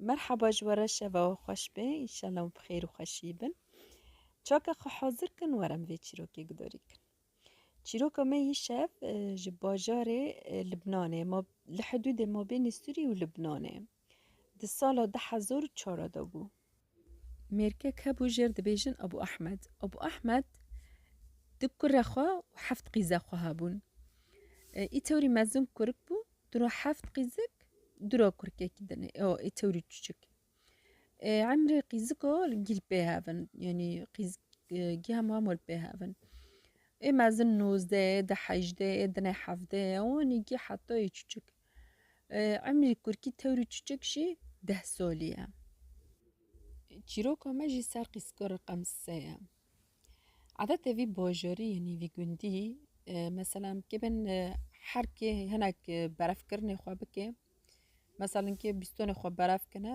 Merhaba ji we re şeva we xweş be înşallah û bi xêr û xweşî bin. Çaka xwe hazir kin were em vê çîrokê gudarî kin. Çîroka me yî şev e, ji bajarê e, Libnanê ma li hidûdê mabênê Sûrî û Libnanê. Di sala 2004 de bû. Mêrkek hebû jêr dibêjin Ebû Ehmed. Ebû Ehmed du kure xwe û heft qîze xwe hebûn. Ê tewrî mezin kurik bû, du ra heft qîzik, du ra kurkekî din ê ê tewrî çûçik. Ê emrê qîziko li gîl pê hevin yanî qîz giha hema mal pê hevin. Ê mezin nozdeh ê, di hejdeh ê, dine hevdeh ê û anî gî heta ê çûçik. Emrî kurkî tewr û çiçik jî deh solî ye. Çîroka me jî ser qîzko reqem se ye. Adetê vî bajarî yanî vî gundî meselem kê bin her kê hinek berevkirinê xwe bike meselem kê bîstonê xwe berev kine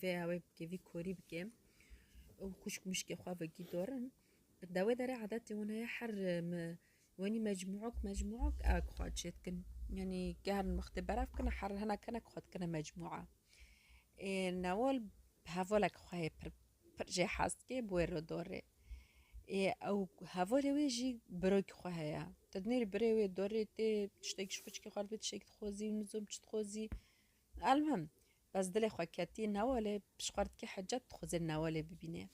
Vê awê bike, vî korî bike. Ew xwişk mişkê xwe vegî dorin. Dawê derê adetê wan heye her me wenî mecmuok mecmuok ewek xwe çê dikin. Yanî gerin wextê berev kine her hena kenek xwe dikine mecmua. Ê newal bi hevalek xwe yê pir pir jê hez dike bi wê re dorê. Ê ew hevalê wê jî birok xwe heye. Tu dinêrî birê wê dorê tê tiştekî ji xwişkê xwe dibê tiştekî dixwazî û nizom çi dixwazî Elmhim, bes dilê xwe ketî newalê, pişxwar dikê Hecet dixweze newalê bibînê.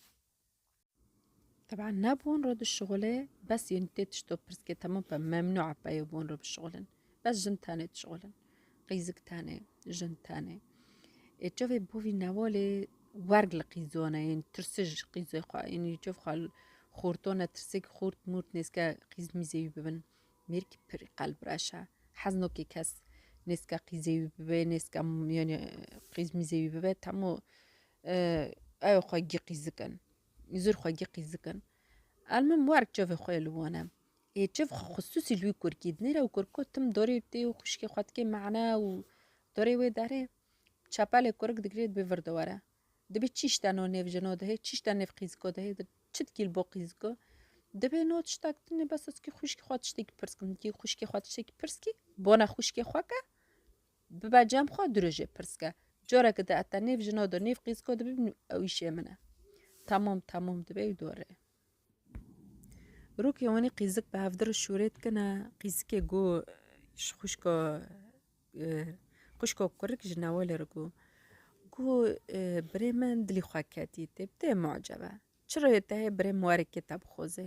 Teban ne bon re dişixulê, bes yên tê tişto pirskê temam be, memnû e peyo bon re bişixulin. Bes jin tenê dişixulin. Qîzik tenê, jin tenê. Ê çavê bo vî newalê werg li qîzone yên tirsij qîzê xwe, ênî çav xwe xortone tirsik xort mort nêzke qîz mîzê wî bibin. Mêrkî pir qelb reş e. Hez nake kes nêzka qîzê wî bibe, nêzka yanî qîz mîzê wî bibe temo ew ê xwe giqî zikin. Zûr xwe giqî zikin. El min werk çavê xwe yê li wan e. Ê çav xwe xisûsî li wî kurkî dinê re û kurko tim dorê tê û xwişkê xwe dikê mane û dorê wê derê çepelê kurik digirê dibê vir dewere. Dibê çi şte no nêv jino dihê, çi şte nêv qîziko dihê, di çi dikî li bo qîziko. Dibê no tişta ki tune bes ez kî xwişkê xwe tiştekî pirs kim. Dikî xwişkê xwe tiştekî pirs kî, bona xwişkê xwe ke bibe cem xwe du rojê pirs ke. Coreke di ez te nêv jino do nêv qîziko dibim ew îşê min e. Tamam tamam dibê ew dore. Rokê wanî qîzik bi hevdir û şûrê dikine qîzikê ku ji xwişka xwişka kurik ji newalê re got ku birê min dilî xwe ketî tê bi tê mucebe çira yê tehê birê min were kê te bixoze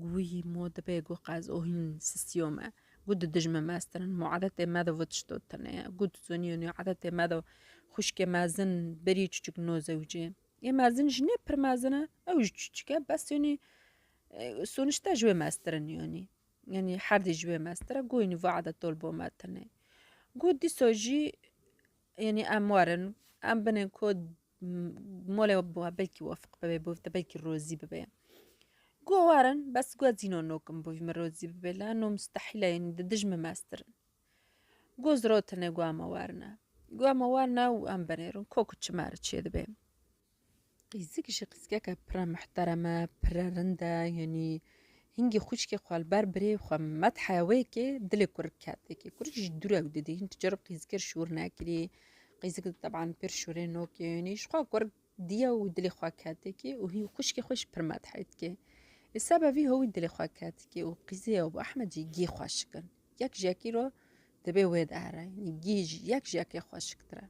got wî ma dibe ku qez û hîn sisiyo me got di dijmin mestirin ma edetê me de vê tişto tune ye got tu zonî wî edetê me de xwişkê mezin berî çicik noze wicê. Yê mezin ji nê pir mezin e, ew ji çûçik e bes yanî sonişte ji wê mestir in yanî. Yanî herdî ji wê mestir e got yanî vade tol bo me tune. Got dîsa jî yanî em werin em binên ku molê we belkî wefiq bibê bo te belkî rozî bibê. Got werin bes got zîno nokim bo vî min rozî bibê lano mustehîl e yanî di dij min mestirin. Goz ro tine gua me werne. Gua me werne û em binêrin ko ku çime re çê dibe. Qîzik jî qîzikeke pire muhtereme, pire rind e, yanî hingî xwîşkê xwe li ber birê xwe methiya wê ke dilê kurik ket êkê. Kurik jî dû re ew didî, hin tu carok qîzikê şûr nekirî, qîzik di teban pir şûrê nokê, yanî ji xwe kurik Diya û dilê xwe ketikê û hî û xwişkê xwe jî pir medhê dike. Li seba vî hewî dilê xwe ketikê û qîzê Ebû Ehmed jî gî xweşik in. Yek ji yekî re dibê wê de here. Yanî gî ji yek ji yekê xweşiktir e.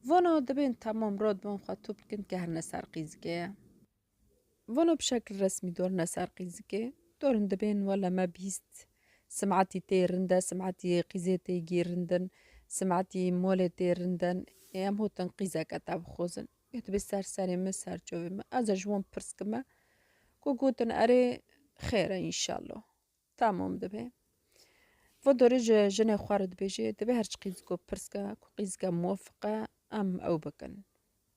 Vana dibên temam re dibên xwe top dikin ke herine ser qîzikê ye. Vano bi şekl resmî dorine ser qîzikê, dorin dibên wele me bîst simetî tê rinde, simetî qîzê tê gî rindin, simetî molê tê rindin, ê em hotin qîzeke te bixozin. Gotibê ser serê min, ser çavê min. Ez e ji wan pirs kime ku gotin erê xêr e înşello. Tamam dibe. Vo dorê ji jinê xwe re dibêjê, divê her çi qîz ku pirsga ku qîzga muwafiqe em ew bikin.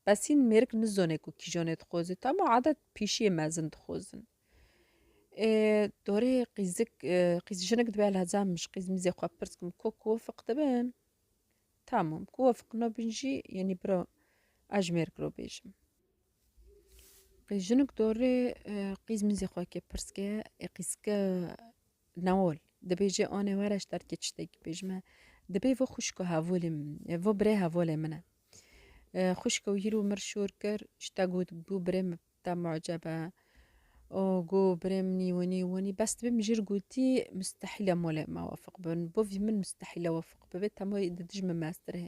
Besîn mêrik nizone ku kîjonê dixweze tama adet pîşiyê mezin dixwezin. Ê dorê qîzik qîz jinik dibe li heza min ji qîz mîzê xwe pirs kim ku kuwafiq dibin? Tamam kuwafiq nabin jî yenî biro ez ji mêrik re bêjim. Qî jinik dorê qîz mizê xwe kê pirs ke ê qîzke newol dibêje anê were ji derkê çitekî bêjime dibê vê xwişka hevolê min e vê birê hevolê min e xwişka wî îro mir şor kir ji te got bû birê min bi te muceb e û got birê min î winî winî bes dibê mijûl gotî mistehîl e molê me wefiq bibin bivî min mistehîl e wefiq bibe te murî di dij min meztir e.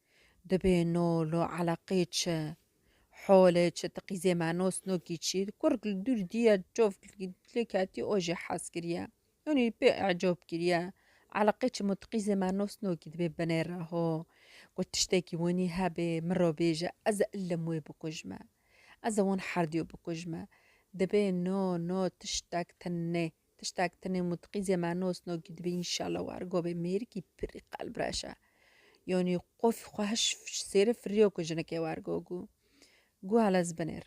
Dibê nol û eleqê çi, holê çi, ti qîzê me nosnokî çi, kurg li dûr dîye çov lê ketî o jî hez kiriye. Hûn jî pê ecop kiriye. Eleqê çi mut qîzê me nosnokî dibê binê re ho. Got tiştekî winî hebê miro bêje ez ê ilim wê bikujme. Ez ê wan herdî yo bikujme. Dibê no no tiştek tin nê. Tiştek tenê mutqî zê me nos no kî dibe înşala war govê mêr kî pirî qelb reşe. Yonî qofî xwe hiş sêri firiyo ku jinike war go gû. Gû hele ez binêr.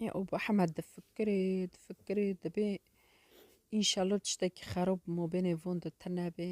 Ya o bo heme difikirê, difikirê dibê. Înşalo tiştekî xerob mobênê von de tenebê.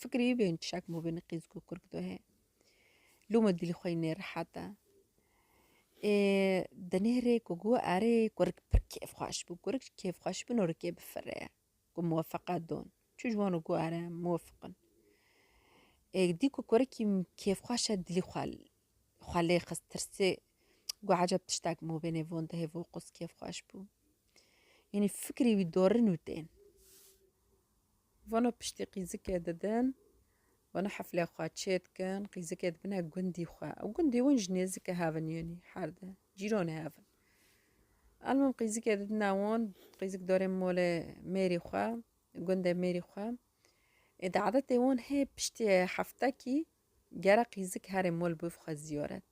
Fikrî bên çişek mû bê niqîz ku kurk dohê. Lûme dîlî xwe yî nêrihet e. Ê di nêrê ku gu erê kurk pir kêfxweş bû. Kurk ji kêfxweş bûn rikê bifirê ku muwefeqet don. Çi ji wan û gu ere muwefiq in. Ê dî ku kurkî kêfxweş e dilî xwe xwe lê xist tirsê gu eceb tiştek mû bê nêvon dihê vo qûz kêfxweş bû. Yanî fikrî wî dorin û tên. Vana piştî qîzikê didin, vana heflê xwe çêdikin, qîzikê dibine gundî xwe. Ew gundî hûn ji nêzikê hev in yûnî, her di cîronê hev in. Elmim qîzikê didine hûn, qîzik dorê molê mêrî xwe, gundê mêrî xwe. Ê di adetê hûn hê piştî heftekî Gera qîzik herê mol bûv xwe zîyoret.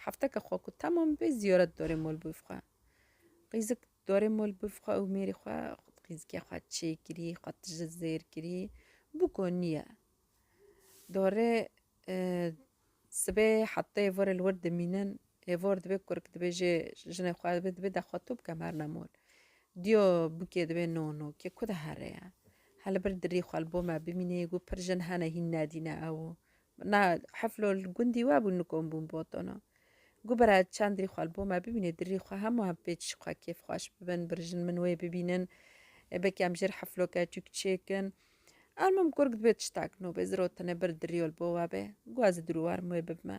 Hefteke xwe ku temam bê zîyoret dorê mol bûv xwe. Qîzik dorê mol bûv xwe û mêrî xwe qîzikê xwe çêkirî, xwe tije zêr kirî bû ku nîye. Dorê sibê hefteyê vorê li wir dimînin Hêvor dibê kurk dibê jê jinê xwe dibê dibê de xwe tu bike merna mol. Diyo bikê dibê no no kê ku de here ye. He li bir dirî xwe li bo me bimînê got pir jin hene hîn nedîne ew. Na heflo li gundî we bûn li kom bûn botono. Got bira çend dirî xwe li bo me bimînê dirî xwe hemû hem pê çi xwe kêf xweş bibin bir jin min wê bibînin. Belkî em jêr hefloke çûk çêkin. Almim kurk dibê tiştak no bê zirotine bir dirîyo li bo we bê. Got ez ê dirû werim wê bibime.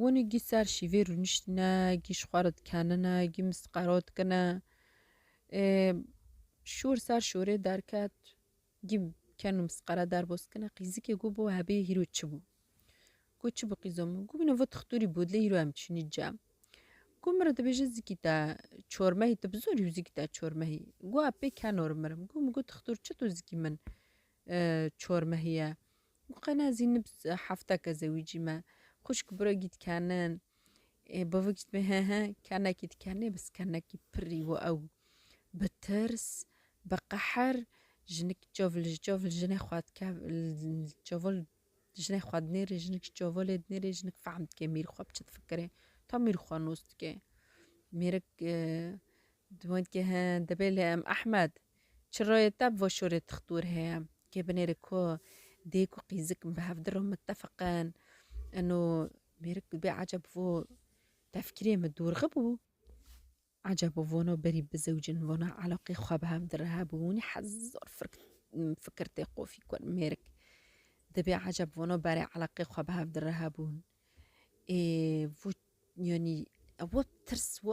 Woni gî ser şîvê rûniştîne, gî ji xwe re dikenine, gî misqero dikine. Şor ser şorê derket, gî ken û misqere derbo dikine. Qîzikê got bo hebê hîro çi bû? Got çi bû qîzo min? Got min vat xitûrî bû dilê hîro em çûnî cem. Got min re dibêje zikî te çormehî te bi zorî û zikî te çormehî. Got epê kenor mirim. Got min got xitûr çi to zikî min çormehî ye? Û qena zî nib hefta ke zewîcî me. Xwişk biro gît kenin. Ê bavik jî dibê he he kenekî dikenê bis kenekî pirrî û ew bi tirs bi qeher jinik çav li çav li jinê xwe dike li çav li jinê xwe dinêrê jinik ji çavolê dinêrê jinik fehm dike mîr xwe bi çi difikirê ta mîr xwe nos dike mêrik di we dike he dibê lê em Ehmed Çirayê te bi vo şorê tixtur heye kê binêrê ku dêk û qîzik bi hev dir û mitefeq in. Ino mêrik dibê eceb vo tefkirê min dûrxi bû. Eceb û vona berî bi zewcin vona elaqê xwe bi hev dir hebû hûnî hezar firk fikir tê qofî kur mêrik. Dibê eceb vona berê elaqê xwe bi hev dir hebûn. Ê vo yanî vo tirs vo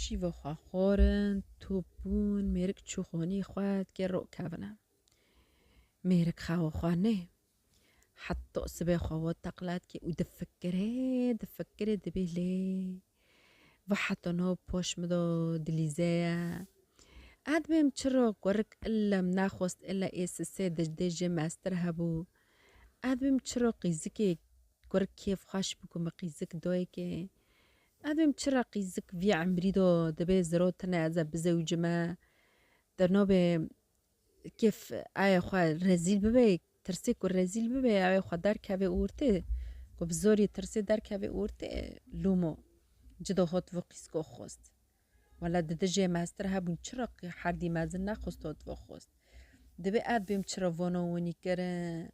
Şîva xwe xwarin, top bûn, mêrik çû xonî xwe dikê rok kevine. Mêrik xewa xwe nê. Heta sibê xwe we teqla dikê û difikirê, difikirê dibê lê. Ve heta nav poş min de dilîze ye. Ez dibêm çira kurik illa min nexwest illa ê sisê dijdê jê meztir hebû. Ez dibêm çira qîzikê kurik kêf xweş bû ku min qîzik dayê kê. Evim çi reqî zik vî emrî do dibê ziro tine ez e bizewicime der nabê kêf aye xwe rezîl bibê tirsê ku rezîl bibê aye xwe derkevê û rtê ku bi zorî tirsê derkevê û rtê lûmo ci do hot vi qîsko xost wela di dijê mestir hebûn çi reqî herdî mezin nexost hot vi xost dibê ev bêm çi re vono winî kirin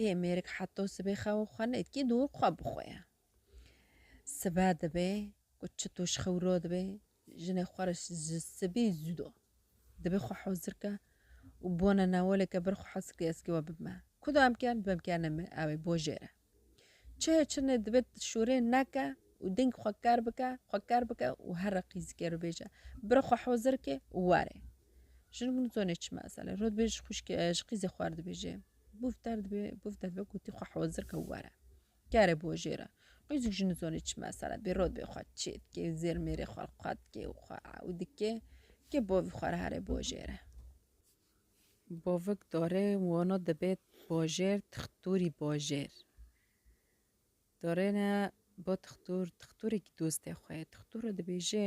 ê mêrik heta sibê xewa xwe nêt kî dûr xwe bixwe ye. Sibe dibe ku çito ji xewro dibe jinê xwe re ji sibî zû do. Dibe xwe hozir ke û bona newoleke bir xwe hozir ke ez kê we bibime. Ku da em kern bim kerne me ewê bo jê re. Çihe çinê dibe şûrê neke û deng xwe ker bike xwe ker bike û her re qîzike ro bêje bir xwe hozir ke û were. Jinik nizone çi mesele rot bê ji xwîşkê ji qîzê xwe re dibêje. Bûvter dibê bûvter dibe ku tî xwe hozir ke û were. Kere bo jê re. Qîzûk ji nizonê çi mesele bê, rotbê xwe çê dikê, zêr mêrê xwe li xwe dikê û xwe ew dikê ke bavî xwe re here bo jê re. Bavik darê wana dibê bajêr tixtûrî bajêr. Darê ne ba tixtûr, tixtûrekî dostê xwe ye. Tixtûr re dibêje.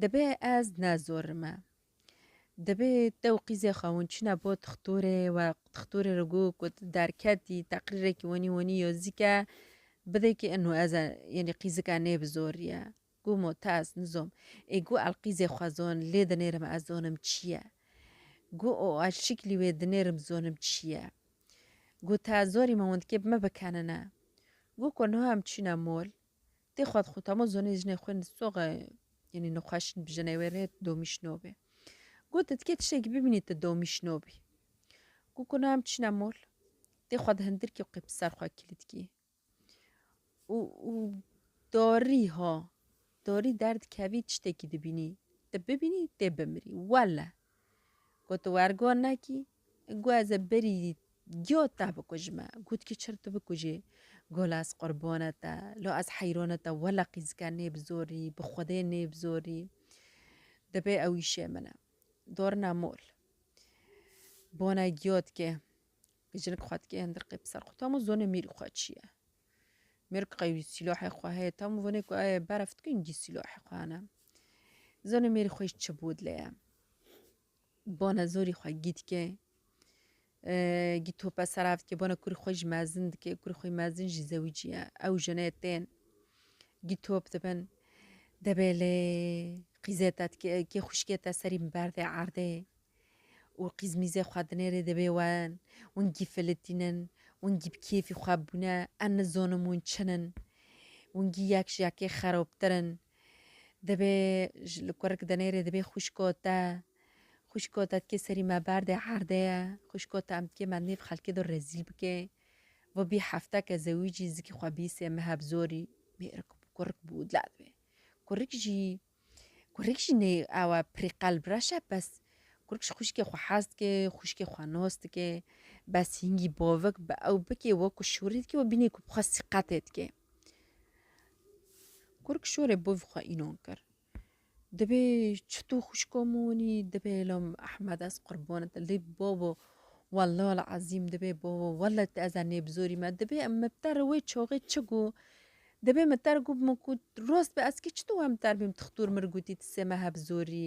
Dibê ez ne zor me. Dibê te û qîzê xwe hûn çîne bo tixtorê we tixtorê re got ku tu derketî teqrîrekî wenî wenî yozîk e bidê ki inu ez e yenî qîzika nê bi zor ye. Got mo te ez nizom. Ê got el qîzê xwe zon lê dinêrim ez zonim çî ye. Got o el şiklî wê dinêrim zonim çî ye. Got te ez zorî me hûn dikê bi me bikenine. Got ku niha em çîne mol Tê xwed xû tamo zonê jinê xwên di soxe yenî nixweşin bi jinê wê rê tu domî şinobê. Got tu dikê tiştekî bibînî tu domî şinobî. Got ku na em çîne mol. Tê xwed hindirkî û qey bi ser xwe kilîdkî. Û û dorî ha dorî derdikevî tiştekî dibînî. Tu bibînî tê bimirî wele. Got tu wergo nekî Gu ez ê berî giyo te bikujime. Got kî çir tu bikujî. Got ez qurbona te. Lo ez heyrona te wela qîzike nêbizorî, bi xwedê nêbizorî. Dibe ew îşê min e. Dorna mol. Bona giyo dike. Jinik xwe dike hindirqê bi ser xwe. Tu hemû zonê mêrî xwe çi ye. Mêr qey wî sîlahê xwe heye. Tu hemû vonê ku eye berf dikin gî sîlahê xwe hene. Zonê mêrî xwe jî çi bû dileye. Bana zorî xwe gî dike. Gî tope serav dike, bana kurî xwe jî mezin dike, kurî xwe mezin jî zewîcî ye. Ew jine tên. Gî top dibin. Debelê qîzê te dike, kê xuşkê te serî min berdê erdê. û qîzmîzê xwe dinêrê dibê wen wan gî filitînin wan gî bi kêfî xwe bûne em nizonin wan çin in wan gî yek ji yekê xerobtir in Dibê ji li kurik dinêrê dibê xwişko te, xwişko te dikê serî me berdê erdê ye, xwişko te em dikê me nêv xelkê do rezîl bikê. Ve bî hefteke zewîcî zikî xwe bîsê me heb zorî mêrik bû kurik bû dila dibê. Kurik jî kurik jî nê ewe pirî qelb reş e bes kurik ji xwişkê xwe hez dikê, xwişkê xwe nos dikê. Bes hîngî bovik bi ew bikê wek ku şûrî dikê we bînê ku bi xwe sîqetê dikê. Kurk şorê bo vî xwe înan kir. Dibê çi tu xwişko min winî dibê elo min Ehmed ez qurbanê te lê babo wellal el ezîm dibê babo wele tu ez e nêbizorî me dibê em min bi te re wê çaxê çi got dibê min te re got min ku rast be ez kî çi tu were min te re bîm tu xtur min re gotî tu sê me hebizorî.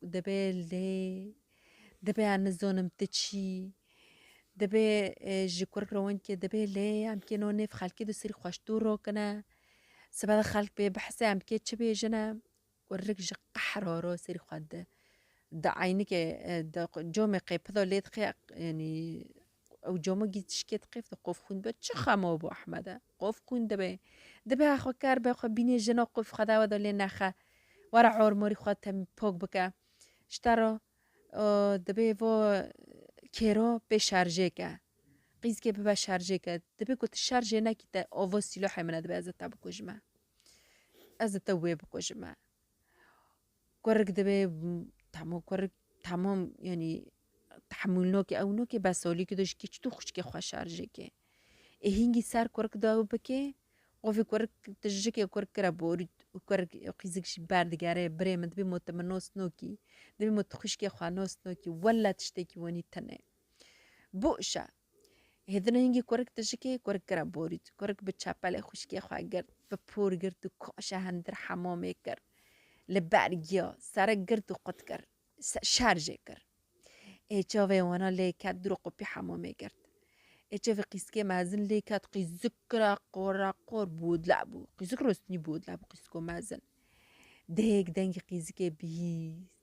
Dibe lê dibe em nizonim ti çî dibe ji kurk re win ki dibe lê em kê no nêv xelkê di sirî xweş dûr rokine sibe de xelk bê bihise em kê çi bêjine kurk ji qehr horo sirî xwe di di eynike di comê qê pido lê dixê yanî Ew cama gî tişkê diqêf di qof xwîn dibe çi xema bo Ehmede. Qof xwîn dibe. Dibe ha xwe kar be xwe bînê jina qof xwe dawe de lê nexe. Were ormarî xwe tem pok bike. Ji te re dibe va kêro bê şerjê ke. Qîzkê bibe şerjê ke. Dibe ku tu şerjê nekî te ava sîlohê min e dibe ez ê te bikujime. Ez ê te wê bikujime. Kurik dibe tamo kurik tamam yanî tehmûl nake ew nake be salî ki dojikê çi tu xwişkê xwe şarjê ke. Ê hîngî ser kurik de ew bike qo vê kurik tu jikê kurik kire borî û kurik û qîzik jî berdigere birê min dibê mo tu min nas nakî dibê mo tu xwişkê xwe nas nakî wele tiştekî wenî tune bû îşe. Hêdin hingî kurik dijikê kurik kira borît. Kurik bi çepelê xwişkê xwe girt, bi por girt û kaşe hindir hemamê kir. Li ber giya, serik girt û qut kir. Şer jê kir. Ê çavê wana lê ket dûr û qopî hemamê girt. Ê çavê qîskê mezin lê ket qîzik kira qoreqor bodle bû. Qîzik rostinî bodle bû qîziko mezin. Dêyek dengî qîzikê bihîst.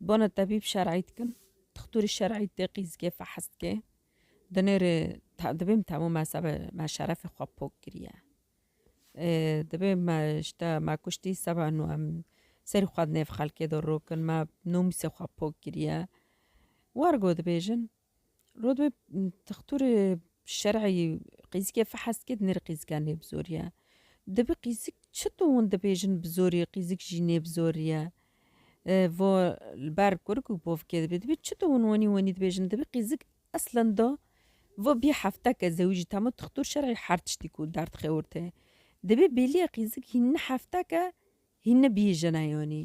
Bana tebîb şer'î dikin. Dixtorî şer'î teqî zikê fehes dike. Di nêrê dibê min temû me sebe me şerefê xwe pok kiriye. Dibê me ji te me kuştî seba nû em serî xwe di nêv xelkê de rokin me nomîsê xwe pok kiriye. War got dibêjin. Rodwê textûrê şer'î qîzikê fehest kê di nêrê qîzikan nê bi zorî ye. Dibê qîzik çi tu hûn dibêjin bi zorî qîzik jî nê bi zorî ye. Vo li ber kur ku bovkê dibê dibê çi tu hûn wenî wenî dibêjin dibê qîzik eslan da vo bî hefteke zewî jî tama textûr şer'î her tiştî ku derd xewirte. Dibê bêlîye qîzik hîn ni hefteke hîn ni bî jina yanî.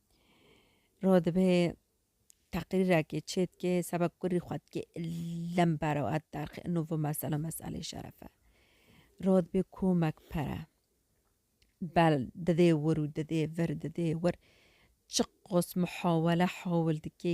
Ro dibe teqrîrekê çêdikê seba kurî xwe dikê lem bero et derxê ino vi mesela meselê şeref e. Ro dibê komek pere bel didê wir û didê vir didê wir çiqos muhawele hawil dikê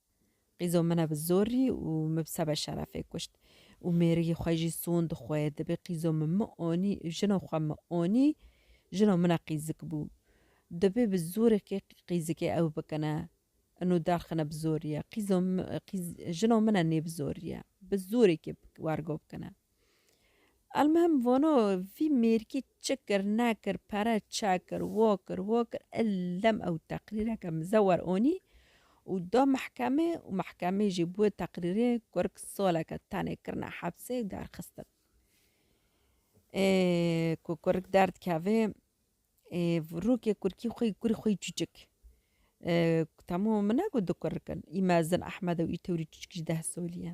Qîzo min e bi zorî û min bi sebe şerefê kuşt. Û mêrigî xwe jî sond xwe. Dibê qîzo min min onî, jino xwe min onî, jino min e qîzik bû. Dibê bi zorê kê qîzikê ew bikine. Ino derxine bi zorî ye. Qîzo min, qîz, jino min e nê bi zorî ye. Bi zorê kê wergo bikine. Elmihim vano vî mêrkî çi kir nekir pere çekir wo kir wo kir ellem ew teqrîreke mize wer onî û da mehkemê û mehkemê jî bi wê teqrîrê kurk saleke tenê kirine hepsê û derxistin. Ê ku kurk derdikeve ê rûkê kurkî xwe yî kurî xwe yî çûçik temû min ne got di kurk in î mezin ehmed û î tewrî çûçik jî deh solî ye.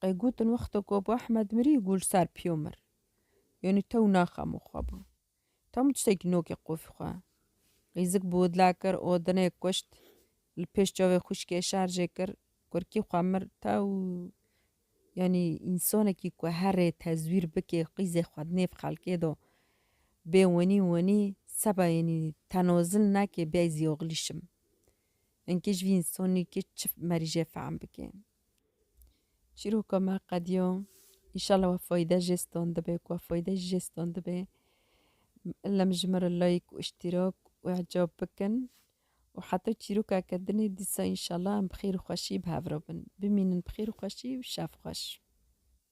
Qey gotin wexta ku Abu Ehmed mirî ku li ser piyo mir. Yanî tew naxemo xwe bû. Tam tiştekî nokê qofî xwe. Qîzik bi widla kir û dinê kuşt. Li pêş çavê xwişkê şerjê kir. Kurkî xwe mir tew. Yanî însanekî ku herê tezwîr bike qîzê xwe di nêv xelkê de bê wenî wenî seba yanî tenazil neke bê ez yoxlîşim. Enkê ji vî însanî ke çi merîje fehm bike. Çîroka me qediya înşallah we fayde jê standibe ku we fayde jî jê standibe. Lem ji min re like û îştîrak û îcab bikin û heta çîrokeke din ê dîsa înşallah em bi xêr û xweşî bi hev re bin. Bimînin bi xêr û xweşî û şev xweş.